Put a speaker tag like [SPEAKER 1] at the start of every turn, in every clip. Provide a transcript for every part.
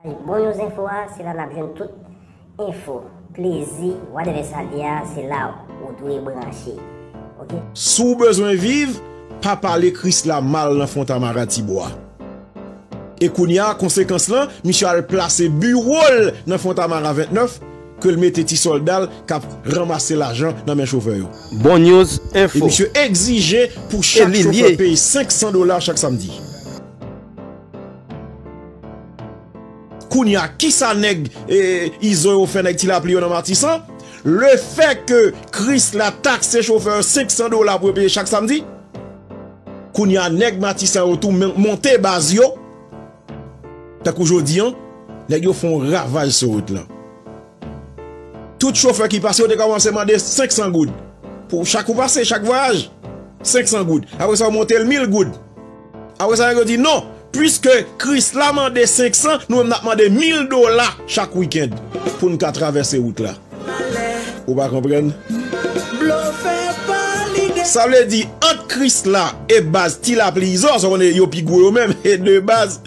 [SPEAKER 1] Bay bon yon zenfo a se la nap jwenn tout enfo plezi whatever sa li a se la ou dwe branche ok. Si w bezwen
[SPEAKER 2] viv, pa pale Krisla mal nan Fontamara Tibwa. E kounye a, konsekans lan, misye al plase biwo l nan Fontamara 29, ke l mete ti sòlda l k ap ranmase lajan nan men chofè yo. Bon News
[SPEAKER 3] E Info. misye egzije
[SPEAKER 2] pou chak chofè peye 500 dola chak samdi. Kounya kisa nèg izo yo fè nèg ti lapli yo nan matisan? Le fè ke krisla takse chofè yo 500 dola pou yo peye chak samdi? Kounya nèg matisan yo tou monte baz yo? Tankou jodi an nèg yo fon ravaj sou wout lan. Tout chofè ki pase yo te kòmanse mande 500 goud pou chak ou pase chak vwayaj 500 goud apresa yo montel 1000 goud. Apre sa nèg yo di non, puiske Kris la mande 500, nou menm n ap mande 1000 dola chak wikend pou n ka travèse wout la. Ou pa konprann? Sa vle di, ant Kris la e baz Ti Lapli Izo, sa w konnen yo pi gwo yo menm, e de baz,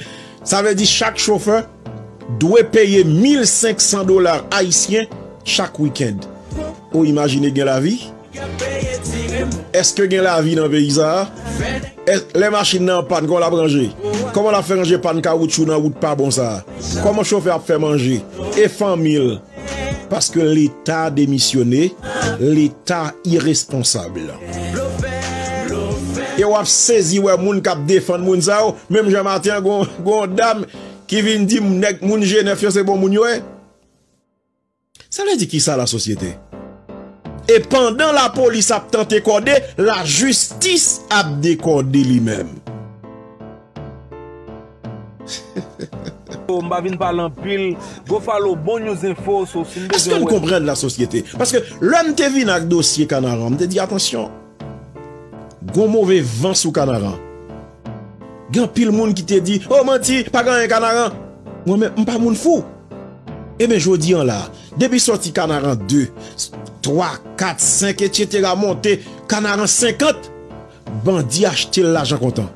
[SPEAKER 2] sa vle di chak chofè dwe peye 1500 dola ayisyen chak wikend. Ou imajine gen lavi? Eske gen lavi nan peyi sa a? Lè machin nan an pàn kòman l ap ranje? Kòman l ap fè ranje pàn kawoutchou nan wout pa bon sa a? Kòman chofè a ap fè manje e fanmi l? Paske leta demisyone, leta iresponsab. E w ap sezi wè moun k ap defann moun sa yo menm jan maten an gen yon dam ki vin di m nèg moun jenèf yo se bon moun yo ye. Sa vle di kisa la sosyete? E pandan la polis ap tante kòde, la jistis ap dekòde li menm. Mpa vin pale anpil, go follow bon news info so sim bezwen wè. Eske n konprann la sosyete? Paske lè m te vin ak dosye Kanaran, m te di atansyon. Gon move van sou kanaran. Gen anpil moun ki te di, oh manti, pa gen anyen kanaran. Mwen menm, m pa moun fou. Eben jodi an la, depi sòti kanaran 2, 3, 4, 5 etc monte kanaran 50, bandi achte l lajan kontan.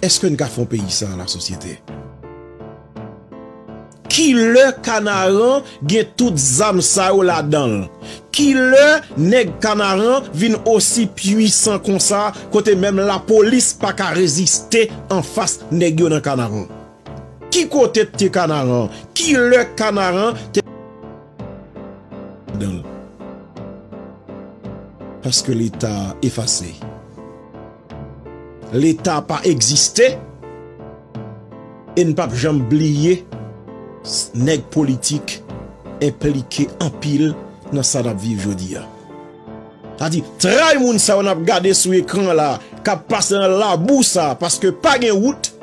[SPEAKER 2] Eske n ka fè yon peyi san lasosyete? Kilè kanaran gen tout zam sa yo ladanl? Kilè nèg kanaran vin osi pwisan konsa kote menm lapolis paka reziste anfas nèg yo nan kanaran? Ki kote t ke kanaran? Kilè kanaran te gen tout zam sa yo ladanl? Paske leta efase. Leta pa egziste e n pap janm bliye nèg politik enplike anpil nan sa n ap viv jodi a. Sa vle di tray moun sa yo n ap gade sou ekran an la k ap pase nan labou sa paske pa gen wout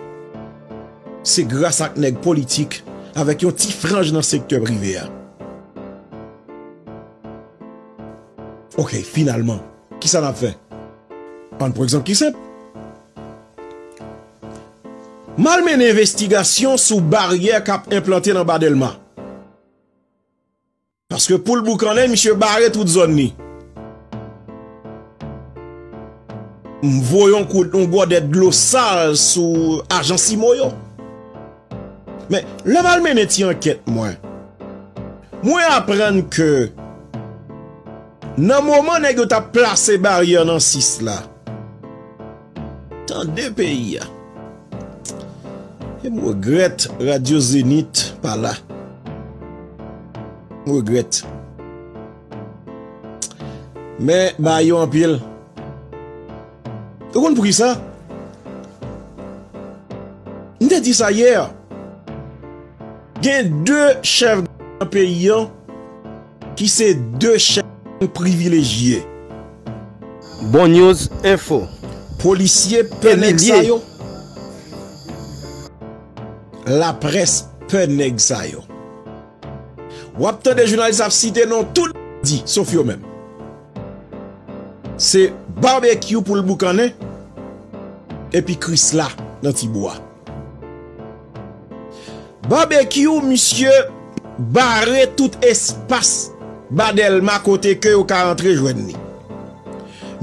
[SPEAKER 2] se gras ak nèg politik avèk yon ti franj nan sektè prive a. Ok finalman. Ki sa n ap fè? Ann pran egzanp ki senp. M al mennen envestigasyon sou baryè k ap enplante nan Ba Dèlma. Paske pou l boukannen, misye bare tout zòn ni. M voye yon gòdèt dlo sal sou ajan Simo yo. Men, lè m al mennen ti ankèt mwen, mwen aprann ke nan moman nèg yo t ap plase baryè nan 6 la, Tande peyi a. E m regrèt radyo Zenith pa la. M regrèt. Men, ba yo anpil. Ou konn poukisa? M te di sa hier. Gen 2 chef gang nan peyi an ki se 2 chef gang privilejye.
[SPEAKER 3] Bon news info. Polisye
[SPEAKER 2] pè nèg sa yo. La presse pè nèg sa yo. Wap tande jounalis ap site non tout bandi sof yo menm. Se barbecue pou l boukannen epi krisla nan ti bwa. Barbecue misye bare tout espas ba delma kote ke yo ka antre jwenn li.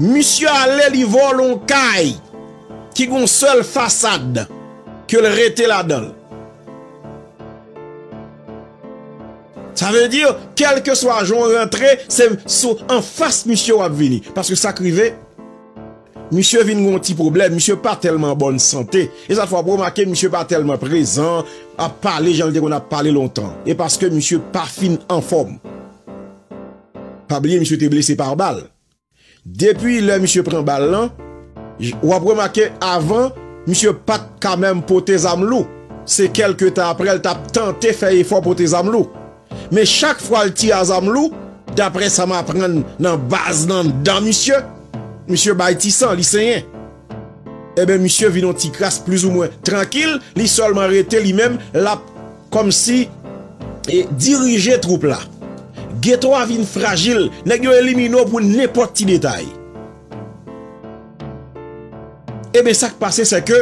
[SPEAKER 2] Misye ale li vòlè yon kay ki gen yon sèl fasad ke l rete ladan l. Sa vle di kelkeswa jan w rantre se sou anfas misye w ap vini. Paske sa k rive, misye vin gen yon ti pwoblèm, misye pa tèlman an bòn sante. E sa fè w ap remake misye pa tèlman prezan, ap pale jan l te konn ap pale lontan. E paske misye pa fin anfòm. Pa bliye misye te blese pa bal. Depi lè misye pran bal lan, wap remake avan misye pat ka menm pote zam lou, se kelke tan aprè l tap tante fè efò pote zam lou. Men chak fwa l tire a zam lou, daprè sa m aprann nan baz nan dan misye, misye bay ti san, li senyen. Enben misye vin yon ti kras plizoumwen trankil, li sèlman rete li menm lap kòmsi dirije twoup la. Geto a vin frajil, nèg yo elimine w pou nenpòt ti detay. Enben sak pase se ke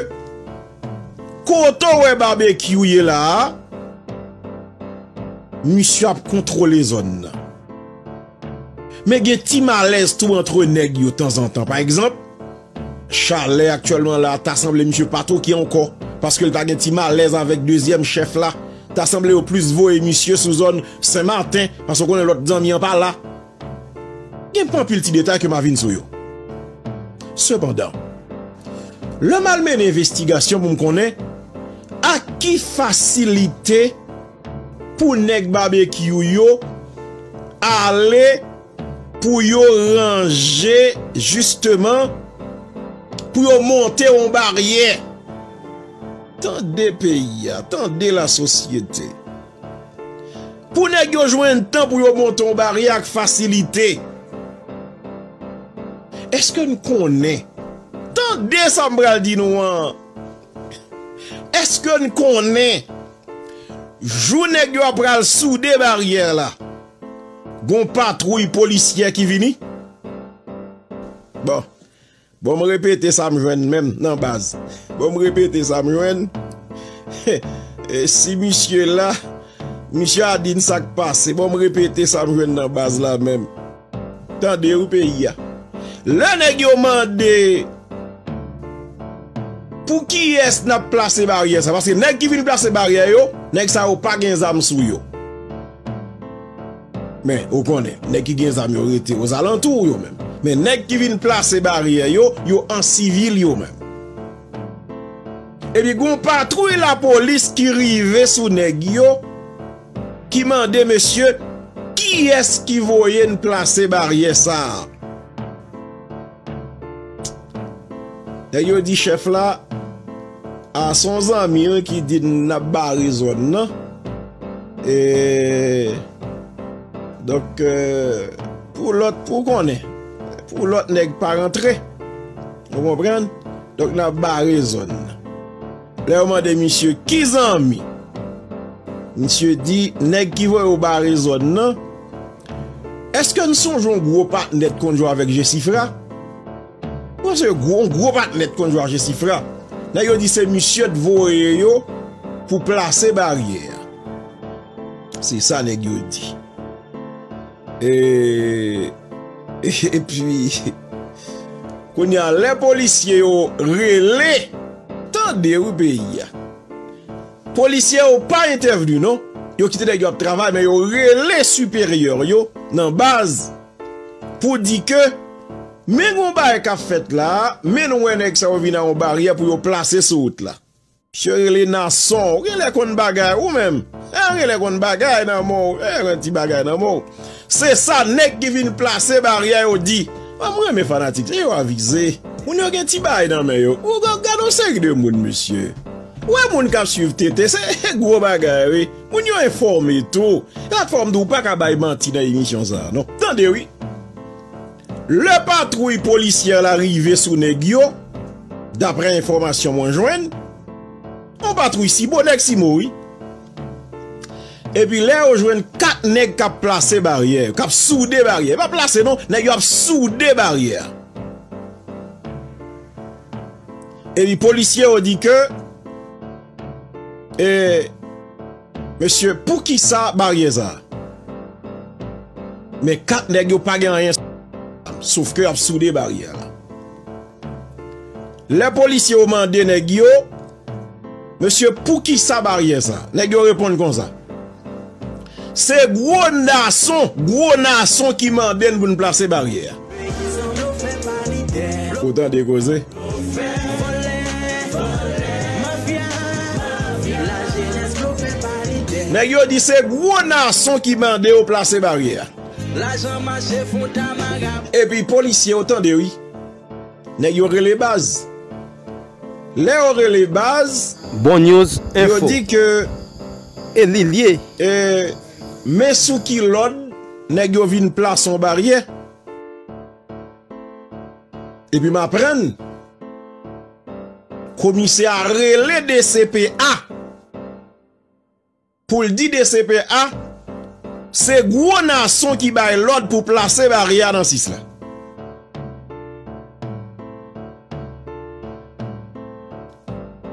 [SPEAKER 2] kote w wè Babekyou ye la a, misye ap kontwole zòn nan. Men gen ti malèz tou antre nèg yo tanzantan. Pa egzanp, Chalè aktyèlman la a ta sanble misye pa toki ankò paske l ta gen ti malèz avèk dezyèm chèf la. Ta sanble yo plis voye misye sou zòn Senmaten paske w konnen lòt zanmi an pa la. Gen pa anpil ti detay ke m a vin sou yo. Sepandan, lè m al mennen envestigasyon pou m konnen ak ki fasilite. Pou nèg babekyou yo ale pou yo ranje jisteman pou yo monte yon baryè. Tande peyi a, tande lasosyete. Pou nèg yo jwenn tan pou yo monte yon baryè ak fasilite. Eske n konnen, tande sa m pral di nou an, eske n konnen. Jou nèg yo ap pral soude baryè la, gon patwouy polisyè ki vini. Bon, bon m repete sa m jwenn menm nan baz. Bon m repete sa m jwenn. Si misye la, misye a di n sa k pase. Bon m repete sa m jwenn nan baz la menm. Tande wi peyi a. Lè nèg yo mande pou kiyès nap plase baryè sa paske nèg ki vin plase baryè yo nèg sa yo pa gen zam sou yo. Men ou konnen nèg ki gen zam yo rete ozalantou ou yo menm. Men nèg ki vin plase baryè yo yo an sivil yo menm. Epi gon patwouy lapolis ki rive sou nèg yo. ki mande mesye kiyès ki voye n plase baryè sa a. Nèg yo di chèf la, a se yon zanmi l ki di n n ap bare zòn nan, e donk pou lòt, pou w konnen, pou lòt nèg pa rantre, ou konprann, donk n ap bare zòn nan. Lè yo mande misye ki zanmi? Misye di nèg ki voye w bare zòn nan. Eske n sonje yon gwo patnè t konn jwe avèk Jesifra? Mwen sonje yon gwo patnè t konn jwe ak Jesifra. Nèg yo di se misye t voye yo pou plase baryè a. Se sa nèg yo di. Eee epi Kounye a lè polisye yo rele tande wi peyi a Polisye yo pa entèvni non yo kite nèg yo ap travay men yo rele siperyè yo nan baz pou di ke men gon bagay kap fèt la men nou wè nèg sa yo vin a yon baryè pou yo plase sou wout la. Misye rele Nason, ou genlè konn bagay ou menm, eh ou genlè konn bagay nan men w, eh ou gen ti bagay nan men w. Se sa nèg ki vin plase baryè yo di. An m renmen fanatik sa yo avize. Moun yo gen ti bagay nan men yo. Ou gad yon seri de moun mesye. Ou wè moun k ap swiv TT se gwo bagay wi. Moun yo enfòme tou. Se sak fè w m di w pa ka bay manti nan emisyon sa non. Tande wi. Lè patwouy polisyè la rive sou nèg yo, daprè enfòmasyon mwen jwenn, yon patwouy sibo, nèg simo wi, epi lè yo jwenn 4 nèg k ap plase baryè, k ap soude baryè, pa plase non, nèg yo ap soude baryè, epi polisye yo di ke e. Mesye poukisa baryè sa. Men 4 nèg yo pa gen anyen sof ke ap soude baryè la. Lè polisye yo mande nèg yo mesye poukisa baryè sa nèg yo reponn konsa. Se gwo nason gwo nason ki mande n pou n plase baryè a. Ou tande koze. Nèg yo di se gwo nason ki mande yo plase baryè a. Epi polisye yo tande wi. Nèg yo rele baz. Lè yo rele baz. Bon News
[SPEAKER 3] Info. Yo di ke.
[SPEAKER 2] E li
[SPEAKER 3] liye. E.
[SPEAKER 2] Men sou ki lòd nèg yo vin plase yon baryè. Epi m aprann komisè a rele DCPA pou l di DCPA se gwo nason ki bay lòd pou plase baryè a nan 6 la.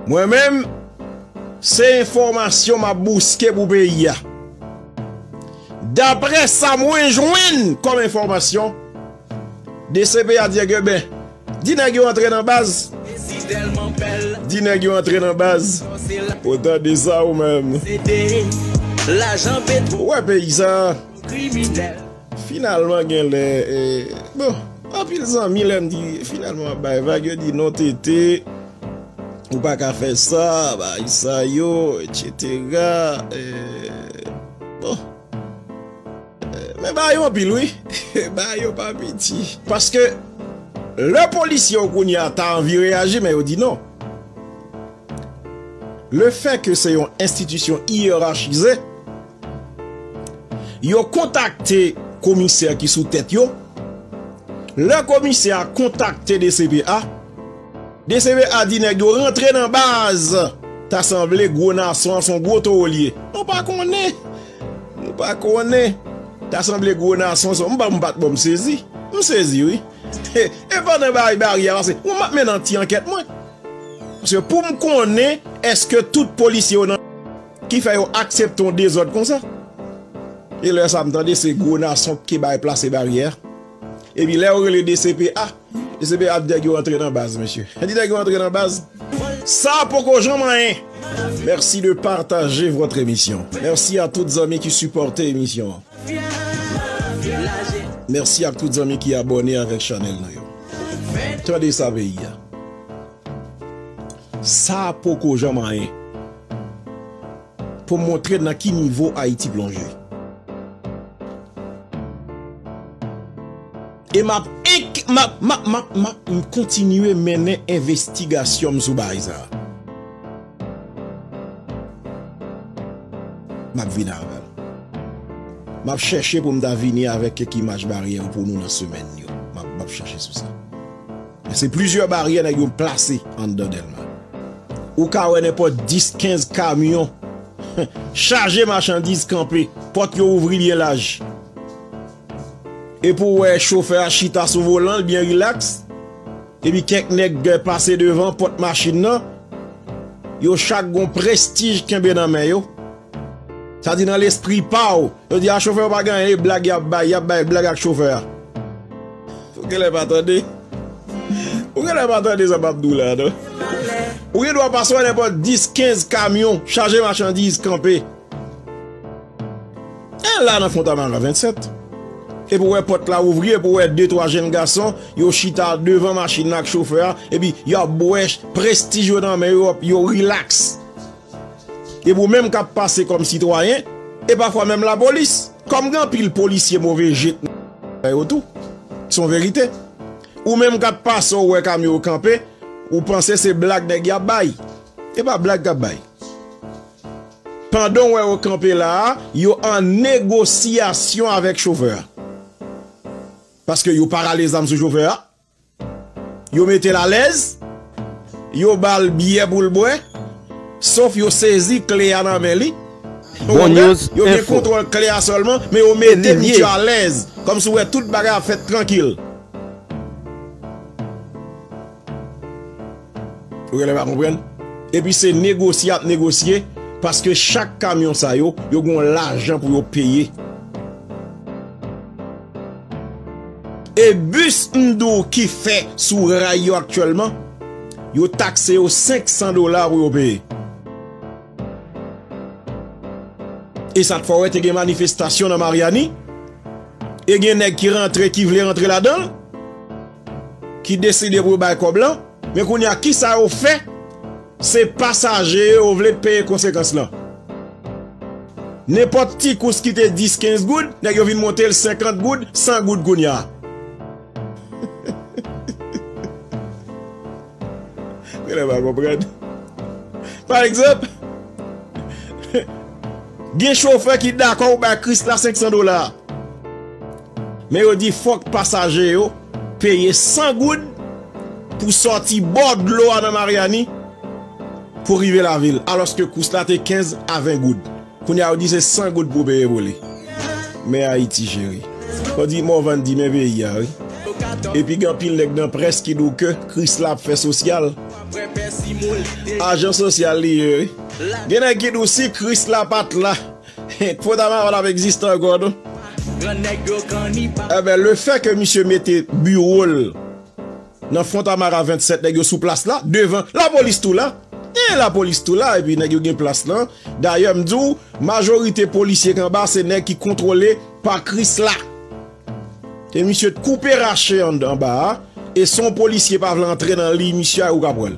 [SPEAKER 2] Mwen menm, se enfòmasyon m ap bouske pou peyi a. Daprè sa mwen jwenn kòm enfòmasyon, DCP a di a gen ben, di nèg yo antre nan baz, di nèg yo antre nan baz, ou tande sa ou menm. Ou wè peyi sa a. Finalman genlè bon anpil zanmi lèm di finalman wap bay vag yo di non TT ou paka fè sa bagay sa yo etc bon men bagay yo anpil wi bagay yo pa piti paske lè polisye yo kounya ta anvi reyaji men yo di non le fè ke se yon enstitisyon iyerachize. Yo kontakte komisè ki sou tèt yo. Lè komisè a kontakte dcph, dcph di nèg yo rantre nan baz. Ta sanble gwo nason an son gwo towo li ye. Nou pa konnen. Nou pa konnen. Ta sanble gwo nason son. M pa m pat bon m sezi. M sezi wi. E pandan bay bari a pase. M ap mennen yon ti ankèt mwen. Paske pou m konnen eske tout polisye yo nan. Ki fè yo aksepte yon dezòd konsa. E lè sa m tande se gwo nason ki bay plase baryè. Epi lè yo rele dcpa, dcpa di nèg yo antre nan baz mesye. Di nèg yo antre nan baz. Sa poko janm anyen. Merci de partager votre emission merci a tout zanmi ki sipòte emisyon an merci ak tout zanmi ki abòne avèk chanèl nou yo tande sa peyi a. Sa a poko janm anyen pou montre nan ki nivo Ayiti plonje. E m ap kontinye mennen envestigasyon m sou bagay sa a. M ap vini avè l. M ap chèche pou m ta vini avèk kèk imaj baryè pou nou nan semèn yo. M ap chèche sou sa. Se plizyè baryè nèg yo plase anndan Dèlma. Ou ka wè nenpòt 10, 15 kamyon chaje machandiz kanpe, pòt yo ouvri byen laj. E pou w wè chofè a chita sou volan l byen rilaks, epi kèk nèg pase devan pòt machin nan, yo chak gen yon prestij kenbe nan men yo. Sa di nan lespri pa w. Yo di a chofè yo pa gen anyen e blag yap bay, yap bay blag ak chofè a. Ou genlè pa tande. Ou genlè pa tande sa map di w la non. Ou gen dwa pase wè nenpòt 10, 15 kamyon chaje machandiz kanpe. E la nan Fontamara 27. Epi ou wè pòt la ouvri epi ou wè 2, 3 jenn gason yo chita devan machin nan ak chofè a epi yap bwè prestij yo nan men yo, yo rilaks. Depi ou menm kap pase kòm sitwayen e pafwa menm lapolis kòm gen anpil polisye move je nan zòn sa yo tou se yon verite ou menm kap pase ou wè kamyon yo kanpe ou panse se blag nèg yo ap bay e pa blag kap bay pandan ou wè yo kanpe la a yo an negosiyasyon avèk chofè a paske yo pa rale zam sou chofè a. Yo mete l alèz, yo ba l byè pou l bwè, sof yo sezi kle a nan men li. Ou konprann?
[SPEAKER 3] Yo gen kontwòl
[SPEAKER 2] kle a sèlman, men yo mete misye alèz, kòmsi ou wè tout bagay ap fèt trankil. Ou genlè pa konprann? Epi se negosye y ap negosye, paske chak kamyon sa yo, yo gen yon lajan pou yo peye. E bis MDOUKI fè sou ray yo aktyèlman, yo takse yo 500 dola pou yo peye. E sa t fè wè te gen manifestasyon nan Maryani, e gen nèg ki rantre ki vle rantre ladan l, ki deside pou yo bay kòb lan, men kounye a kisa yo fè? Se pasaje yo vle t peye konsekans lan. Nenpòt ti kous ki te 10 15 goud nèg yo vin monte l 50 goud 100 goud kounya. Genlè pa konprann. Pa egzanp gen chofè ki dakò ou bay Krisla 500 dola. Men yo di fòk pasaje yo peye 100 goud pou sòti bò dlo a nan Maryani pou rive lavil alòske kous la te 15 a 20 goud. Kounye a yo di se 100 goud pou w peye pou li. Men Ayiti cheri. Yo di Morvan di men peyi a wi. Epi gen anpil nèg nan près ki di w ke Kris la ap fè sosyal. Ajan sosyal li ye wi. Gen nèg ki di w si Kris la pat la. Fo dama pa tap egziste ankò non. Enben le fè ke misye mete biwo l nan fontamara 27 nèg yo sou plas la devan lapolis tou la e lapolis tou la epi nèg yo gen plas lan dayè m di w majorite polisye k anba se nèg ki kontwole pa krisla e misye t koupe rache anba a e son polisye pa vle antre nan liy misye a ou kap wè l.